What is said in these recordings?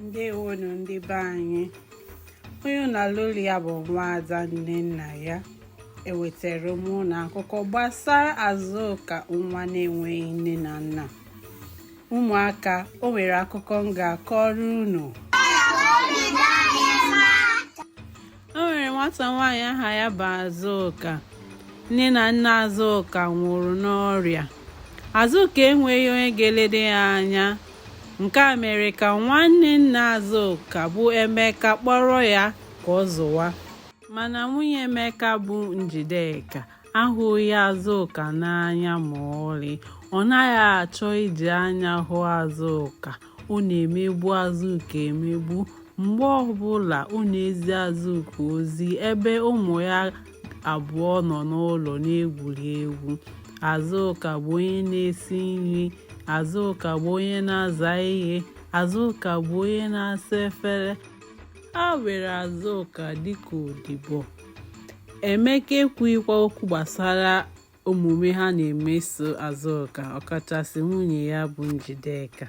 ndewonu ndị be anyị onye na-anụ olu ya bụ nwaada nnennaya ewetara m unu akụkọ gbasara azụka nwa na-enweghị nne na nna ụmụaka o nwere akụkọ m ga-akọrọ unu o nwere nwata nwaanyị aha ya bụ azụka nne na nna azụka nwụrụ n'ọrịa azụka enweghị onye ga-elede ya anya nke a mere ka nwanne nna azụka bụ emeka kpọrọ ya ka ọ zụwa mana nwunye emeka bụ njideka ahụghị azụka n'anya ma ọlị ọ naghị achọ iji anya hụ azụka ọ na-emegbu Azuka emegbu mgbe ọbụla ọ na-ezi Azụka ozi ebe ụmụ ya abụọ nọ n'ụlọ na-egwuri egwu Azụka bụ onye na-esi nri Azụka bụ onye na-aza ihe Azụka bụ onye na-asa efere ha were Azụka dịka odibo Emeka ekwughịkwa okwu gbasara omume ha na-emeso Azụka ọkachasị nwunye ya bụ Njideka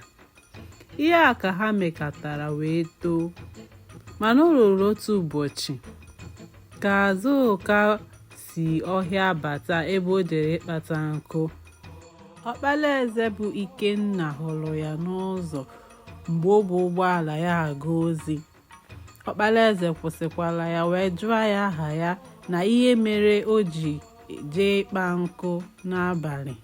ihe a ka ha mekatara wee too mana o ruru otu ụbọchị ka Azụka si ọhịa bata ebe o jere ịkpata nkụ ọkpala eze bụ Ikenna hụrụ ya n'ụzọ mgbe o bu ụgbọala ya aga ozi ọkpara eze kwụsịkwara ya wee jụọ ya aha ya na ihe mere o ji jee ịkpa nkụ n'abalị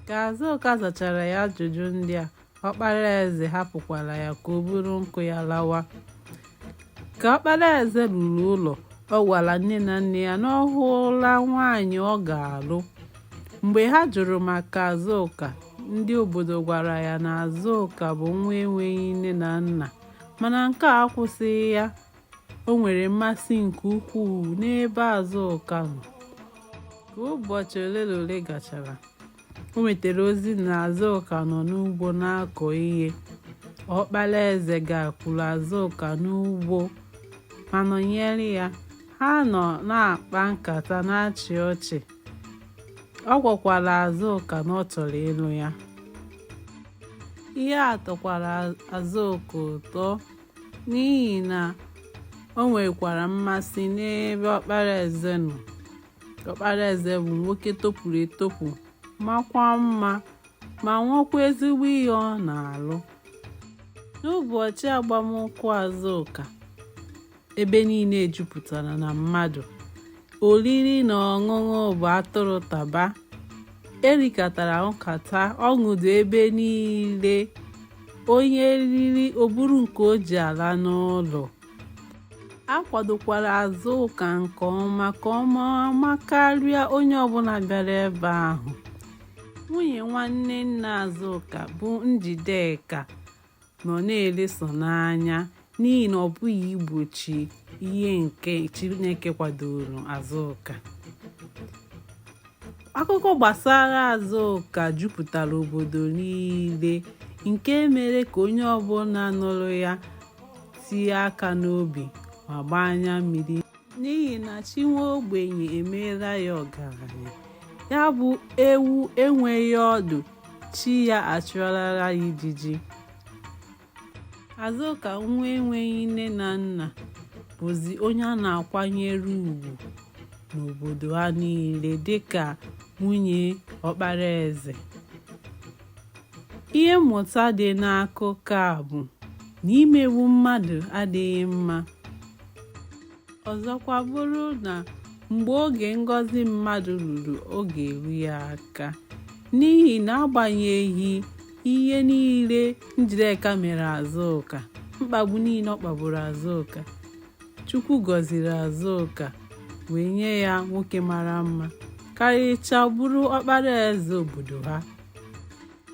ka azụka zachara ya ajụjụ ndị a ọkpara eze hapụkwara ya ka o buru nkụ ya lawa ka ọkpara eze ruru ụlọ ọ gwara nne na nna ya na ọ hụla nwaanyị ọ ga-alụ mgbe ha jụrụ maka azụka ndị obodo gwara ya na azụka bụ nwa enweghị nne na nna mana nke a akwụsịghị ya o nwere mmasị nke ukwuu n'ebe Azụka nọ ka ụbọchị ole na ole gachara o nwetara ozi na Azụka nọ n'ugbo na-akọ ihe ọkpara eze gakwuru Azụka n'ugbo ma nọnyere ya ha nọ na-akpa nkata na-achị ọchị ọ gwakwara Azụka na ọ chọrọ ịlụ ya ihe a tọkwara Azụka ụtọ n'ihi na o nwekwara mmasị n'ebe ọkpara eze nọ ọkpara eze bụ nwoke topụrụ etopụ makwa mma ma nwekwa ezigbo ihe ọ na-alụ n'ụbọchị agbamnkwụ Azụka ebe niile jupụtara na mmadụ oriri na ọṅụṅụ bụ atụrụ taba erikatara ṅụkata ọṅụ dị ebe niile onye riri o buru nke o ji ala n'ụlọ a kwadokwara azụka nke ọma ka ọ maa mma karịa onye ọbụla bịara ebe ahụ nwunye nwanne nna azụka bụ njideka nọ na-ele sọ n'anya n'ihi na ọ pụghị igbochi ihe nke Chineke kwadoro Azụka akụkọ gbasara Azụka jupụtara obodo niile nke mere ka onye ọbụla nụrụ ya tie aka n'obi ma gbaa anya mmiri n'ihi na chi nwa ogbenye emeela ya ọgaranya ya bụ ewu enweghị ọdụ chi ya achụọlara ya ijiji azụka nwa enweghị nne na nna bụzi onye a na-akwanyere ugwu n'obodo ha niile dịka nwunye ọkpara eze ihe mmụta dị n'akụkọ a bụ na imegbu mmadụ adịghị mma ọzọkwa bụrụ na mgbe oge ngọzi mmadụ ruru ọ ga-eru ya aka n'ihi na agbanyeghị ihe niile njideka mere azụka mkpagbu niile ọ kpagburu azụka Chukwu gọziri Azụka wee nye ya nwoke mara mma karịchaa bụrụ ọkpara eze obodo ha.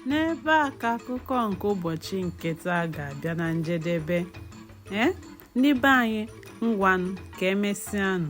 N'ebe a ka akụkọ nke ụbọchị nke taa ga-abịa na njedebe. Ee, eh, ndị be anyị ngwanụ ka emesịanụ.